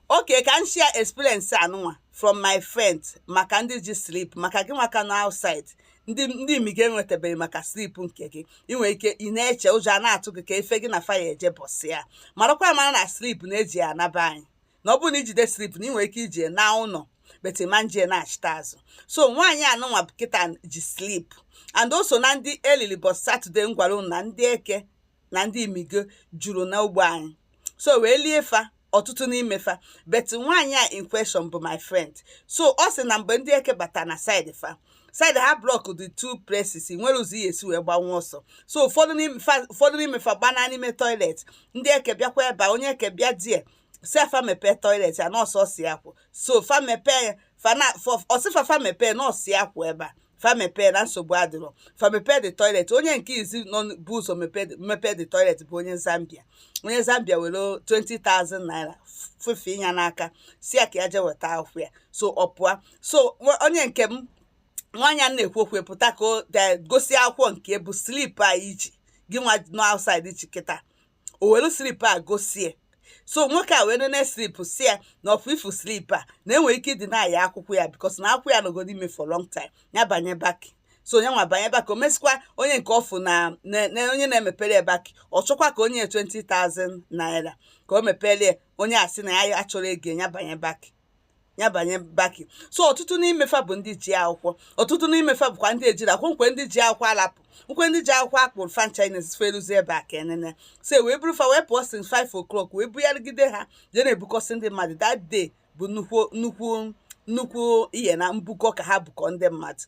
Okay, ka m share experience anụnwa from my friend maka ndị ji slip maka gị nwa ka nọ outside ndị ndị imi gị enwetabeghị maka slip nke gị ị nwere ike ị na-eche ụjọ a na-atụ gị ka ife gị na faya eje bọsị ya marakwa mara na slip na-eji ya anaba anyị na ọ bụrụ na i jide slip na ị nwere ike iji ya naa ụlọ but ị ma nje na-achịta azụ so nwaanyị anụnwa kịta ji slip and also na ndị elili bọs Saturday m gwara unu na ndị eke na ndị imigo juru na ugbo anyị so wee lie fa ọtụtụ n'ime fa but nwaanyị a in question bụ my friend so ọ sị na mgbe ndị eke bata na side fa side ha block the two places nwere ụzọ ihe esi wee gbanwe ọsọ so ụfọdụ n'ime fa gbana n'ime toilet ndị eke bịakwa ebe onye eke bịa there sị fa mepee toilet ya na ọ sọọsọ ya kwụ so fa mepee ya ọ sị fa fa mepee na ọ sọ ya kwụ ebe a fa mepee na nsogbu adịrọ fa mepee the toilet onye nke izi nọ bu ụzọ mepee the toilet bụ onye zambia onye zambia were 20,000 naira fefe ya n'aka sị ya ka ya jee weta akwụkwọ ya so ọ pụọ so onye nke m nwaanyị a na-ekwu okwu pụta ka o gosi akwụkwọ nke bụ slip a i ji gị nwa nọ outside ji kịta o were slip a gosie so nwoke a wee nene slip sị ya na ọ fụ ifu slip a na e nwere ike ịdeny ya akwụkwọ ya because na akwụkwọ ya nọgoro ime for long time ya banye baki so onye nwa banye baki o mesikwa onye nke ọ fụ na na- na onye na-emepere ya baki ọ chọkwa ka o nye 20,000 naira ka o mepere ya onye a sị na ya achọrọ ego ya banye baki ya banye baki so ọtụtụ n'imefa bụ ndị ji akwụkwọ ọtụtụ n'imefa bụkwa ndị ejirọ akwụkwọ nkwe ndị ji akwụkwọ alapụ nkwe ndị ji akwụkwọ akpụrụ fa ncha nine fa eluzi ebe a ka enene so e wee buru fa wee pụọ since 5 o'clock wee bugharịgide ha jee na-ebukọsị ndị mmadụ that day bụ nnukwu nnukwu nnukwu ihe na mbukọ ka ha bukọ ndị mmadụ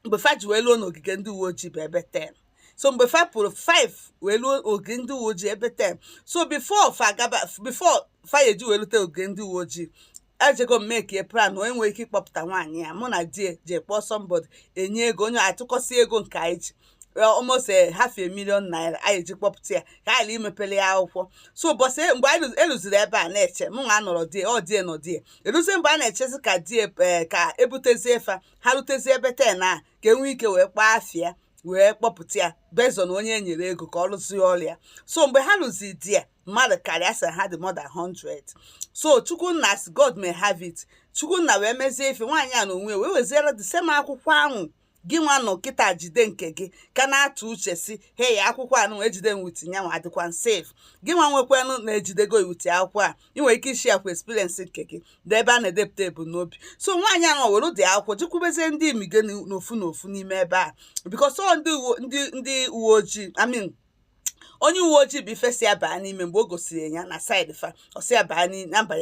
mgbe fa ji wee luo n'ogige ndị uwe ojii bụ ebe 10 so mgbe fa pụrụ 5 wee luo ogige ndị uwe ojii ebe 10 so before fa gaba before fa ya eji wee lute ogige ndị uwe ojii ejego m make plan onye nwere ike ịkpọpụta nwaanyị ya mụ na di ya jee kpọọ somebody enye ego onye atụkọsị ego nke anyị ji almost eh, half a million naira anyị eji kpọpụta ya ka anyị mepele ya akwụkwọ so ụbọchị mgbe anyị luziri ebe a na-eche mụ nwa anọrọ there ọ di ya nọ there eluzie mgbe a na-echezi ka di ya eh, ka ebutezie fa ha rutezi ebe ten a ka enwee ike wee kpaa afịa wee kpọpụta ya based on onye e nyere ego ka ọ lụzie ọrụ ya so mgbe ha luzi there mmadụ karịa sị ha dị more than 100 so chukwunna as god may have it chukwunna wee mezie ife nwaanyị a na onwe wee weziere the same akwụkwọ ahụ gị nwa nọ kịta jide nke gị ka na-atụ uche sị hei akwụkwọ anụ e jide m with nyanwa adịkwa safe gị nwa nwekwanụ na e jidego ị with akwụkwọ a ị nwere ike ịshare kwa experience nke gị dee ebe a na-edepụta ebumnobi so nwaanyị ahụ were ụdị akwụkwọ jekwubezie ndị imige n'ofu n'ofu n'ime ebe a because ọ ndị uwe ndị ndị uwe ojii I mean onye uwe ojii bụ ife sị ya baa n'ime mgbe o gosiri ya na side fa ọ sị ya baa n'i- na mba ya